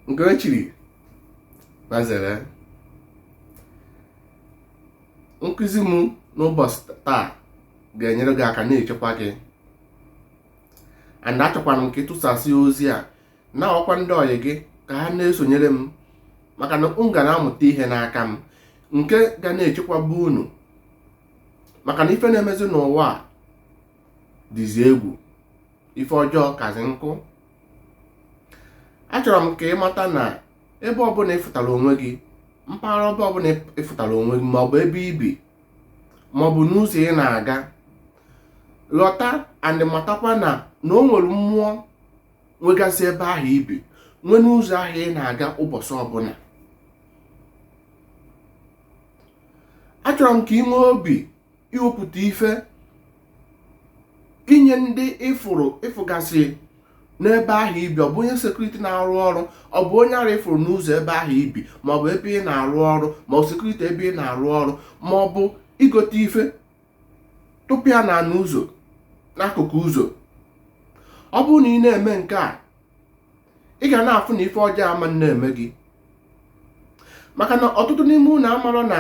nke o chiri gbazere nkụzi m n'ụbọchị taa ga-enyere gị aka na-echekwa gị and achọkwara m ka ị tụsasị ozi a na-agwakwa ndị ọyị gị ka ha na-esonyere m maka na unu ga na-amụta ihe n'aka m nke ga na-echekwaba unu maka na ife na-emezi n'ụwa a dịzi egwu ife ọjọọ kazi nkụ achọrọ m ka ị mata na ebe ọbụla ị fụtara onwe gị mpaghara ebe ọbụla ị fụtara onwe gị maọbụ ebe i bi maọbụ n'ụzọ ị na-aga ghọta and matakwa na na o nwere mmụọ nwegasị ebe ahụ i bi nwee n'ụzọ ahụ ị na-aga ụbọchị ọbụla achọrọ m ka ị nwee obi iwepụta ife inye ndị ị fụrụ ị fụgasị n'ebe ahụ i bi ọ bụ onye sekuriti na-arụ ọrụ ọ bụ onye ara ị fụrụ n'ụzọ ebe ahụ i bi ma ọ bụ ebe ị na-arụ ọrụ ma ọ sekuriti ebe ị na-arụ ọrụ ma ọ bụ igote ife tụpụ ya na n'ụzọ n'akụkụ ụzọ ọ bụrụ na ị na-eme nke a ị ga na-afụ na ife ọjọọ ama na-eme gị maka na ọtụtụ n'ime unu amarọ na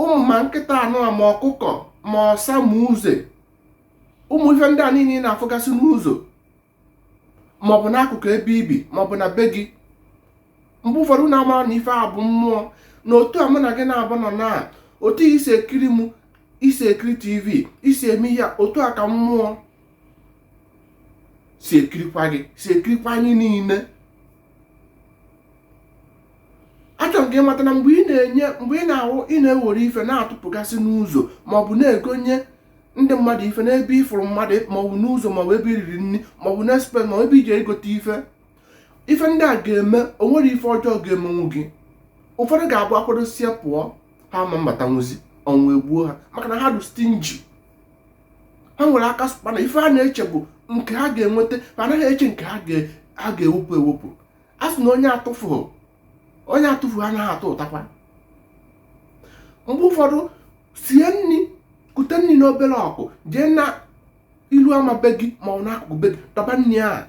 ụmụ ma nkịta anụ a ma ọkụkọ ma ọsa ma uze ụmụ ife ndị a niile ị na-afụgasị n'ụzọ maọbụ n'akụkụ ebe i bi maọbụ na be gị mgbe ụfọdụ unu amarọ na ife a bụ mmụọ na otu a mụ na gị na-abụ nọ na otu i si ekiri m i si ekiri tv i si eme ihe otu a ka mmụọ si ekirikwa gị si ekirikwa anyị niile achọrọ m ka ị mata na mgbe ị na-enye mgbe ị na-awụ ị na-ewere ife na-atụpụgasị n'ụzọ maọbụ na-egonye ndị mmadụ ife n'ebe ị fụrụ mmadụ maọbụ n'ụzọ maọbụ ebe i riri nri maọbụ na espe maọbụ ebe i je igote ife ife ndị a ga-eme o nwerọ ife ọjọọ ga-emenwu gị ụfọdụ ga-abụ akwadosie pụọ ha ma mbatanwuzi ọnwụ egbuo ha maka na ha dị stingy ha nwere aka mana ife ha na-eche bụ nke ha ga-enweta ma anaghị eche nke ha ga-ewepụ ewepụ a sị na onye atụfughị onye atụfughị anaghị atụtakwa mgbe ụfọdụ sie nri kute nri n'obere ọkụ jee na ilu ama be gị ma ọ n'akụkụ be gị dọba nri ahụ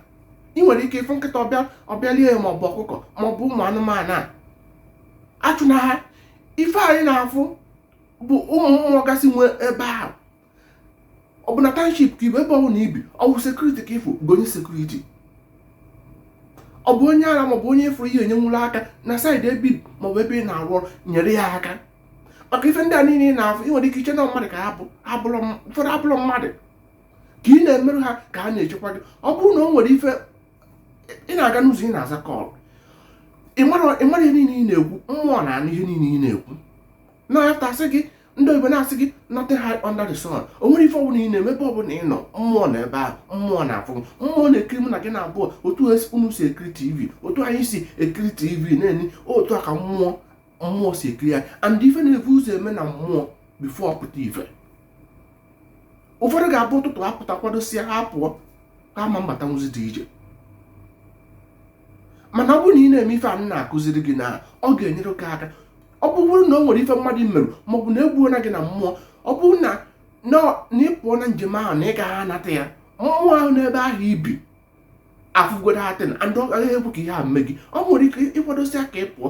ị nwere ike ịfụ nkịta ọ bịa ọ bịa lie ya maọbụ ọkụkọ maọbụ ụmụ anụmanụ a achụna ha ife anyị na-afụ bụ ụmụ mmụọ gasị nwee ebe ahụ ọ bụ na township ka ibi ebe ọbụla ibi ọ bụ security ka ị fụ gonye security ọ bụ onye ara maọbụ onye ị fụrụ ị ga-enyenwulu aka na side ebe ibi maọbụ ebe ị na-arụ ọrụ nyere ya aka maka ife ndị a niile ị na-afụ ị nwere ike iche na mmadụ ka ụfọdụ abụrọ mmadụ ka ị na-emerụ ha ka ha na-echekwa gị ọ bụrụ na o nwere ife ị na-aga n'ụzọ ị na-aza call ị mara ihe niile ị na-ekwu mmụọ na-anụ ihe niile ị na-ekwu na-ata asị gị ndị oyibo na-asị gị nothing hide under the sun o nwere ife ọbụla ị na-eme ebe ọbụla ị nọ mmụọ nọ ebe ahụ mmụọ na-afụ mmụọ na-ekiri mụ na gị na-abụọ otu unu si ekiri tv otu anyị si ekiri tv na-enye otu a ka mmụọ mmụọ si ekiri anyị and ife na-ebu ụzọ eme na mmụọ before ọ pụta ife ụfọdụ ga-abụ ụtụtụ apụta kwadosịa ha pụọ ha ama mbatanwuzi the ije mana ọ bụrụ na ị na-eme ife a na-akụziri gị na ọ ga-enyere gị aka ọ bụrụ na o nwere ife mmadụ merụ maọbụ na egbuola gị na mmụọ ọ bụrụ na na ị pụọ na njem ahụ na ị gaghị anata ya mmụọ ahụ n'ebe ahụ ibi afụgo that thing and ọ gaghị ekwe ka ihe a mee gị ọ nwere ike ị kwadosịa ka ị pụọ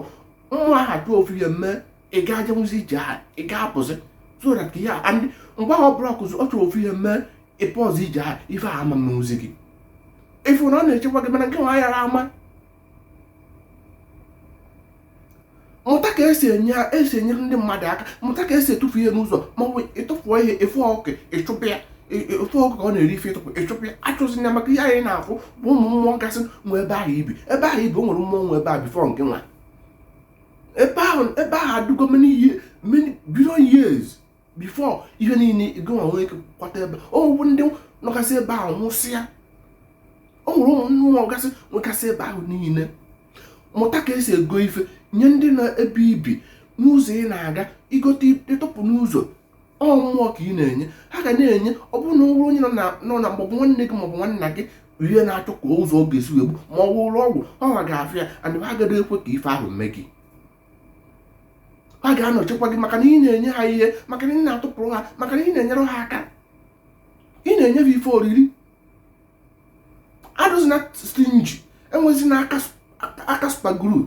mmụọ ahụ achọ ofu ihe mee ị ga-ejenwuzi ije ahụ ị ga-apụzi so that ka ihe a and mgbe ahụ ọ bụla kụzi ọ chọrọ ofu ihe mee ị pụrọzị ije ahụ ife a ama mezi gị ị fụ na ọ na-echekwa gị mana ngịnwa yara ama mụta ka esi enye esi enyere ndị mmadụ aka mụta ka esi etufu ihe n'ụzọ ma ọ bụ ị tụfuo ihe ị fụ ọkụkọ ị chụpụ ya ị fụ ọkụkọ ọ na-eri ife ị tụpụ ị chụpụ ya achụzina maka ihe anyị na-afụ bụ ụmụ mmụọ gasị nwe ebe ahụ ibi ebe ahụ ibi o nwere mmụọ nwe ebe ahụ before ngịnwa ebe ahụ ebe ahụ adịgo many years many billion years before ihe niile ngịnwa nwee ike kwata ebe o nwere ndị nọgasị ebe ahụ nwụsịa o nwere ụmụ mmụọ gasị nwegasị ebe ahụ niile mụta ka esi ego ife nye ndị nọ ebe ibi n'ụzọ ị na-aga i gote ị tụpụ n'ụzọ ọ mmụọ ka ị na-enye ha ga na-enye ọ bụrụ na o nwere onye nọ na maọbụ nwanne gị maọbụ nwanna gị ihe na-achọ ka ụzọ ọ ga-esi wee gbuo ma ọ wụrụ ọgwụ ọ ga-afịa ya and ha agaghị ekwe ka ife ahụ mee gị ha ga-anọchikwa gị maka na ị na-enye ha ihe maka na ị na-atụpụrụ ha maka na ị na-enyere ha aka ị na-enye ha ife oriri adịzina stingy enwezina aka super glue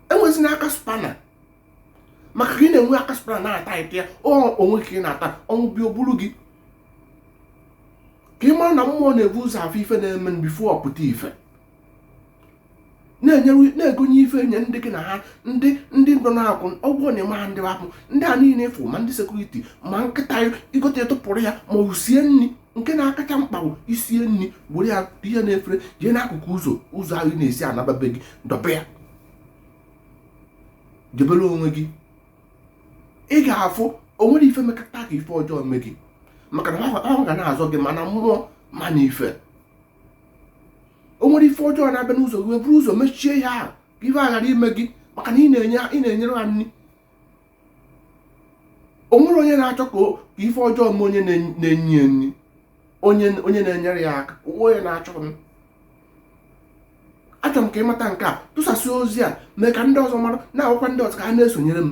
enwezina aka spanner maka ka ị na-enwe aka spanner na-ata ite ya onwe ka ị na-ata ọnwụ bịa o buru gị ka ị mara na mmụọ na-ebu ụzọ afụ ife na-eme before ọ pụta ife na-enyewe na-egonye ife enye ndị gị na ha ndị ndị nọ na-akwụ ụgwọ na ịma ha ndị akwụ ndị a niile efu ma ndị sekuriti ma nkịta i gote tụpụrụ ya ma ọ sie nri nke na-akacha mkpa bụ i sie nri were ya ihe n'efere jee n'akụkụ ụzọ ụzọ ahụ ị na-esi anaba be gị dọba ya jebere onwe gị ị ga-afụ o nwere ife mekata ka ife ọjọọ mee gị maka na ha ga na-azọ gị ma na mmụọ ma na ife o nwere ife ọjọọ na-abịa n'ụzọ gị buru ụzọ mechie ihe ahụ ka ife aghara ime gị maka na ị na-enyere ha nri o nwere onye na-achọ ka ife ọjọọ mee onye na-enye nri onye na-enyere ya aka onye na-achọ m achọrọ m ka ị mata nke a tụsasị ozi a mee ka ndị ọzọ mara na-agwakwa ndị ọzọ ka ha na-esonyere m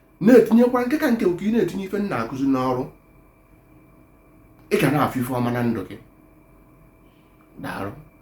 na-etinyekwa nke ka nke nke ị na-etinye ife m na-akụzi n'ọrụ ị ga na-afụ ife ọma na ndụ gị daalụ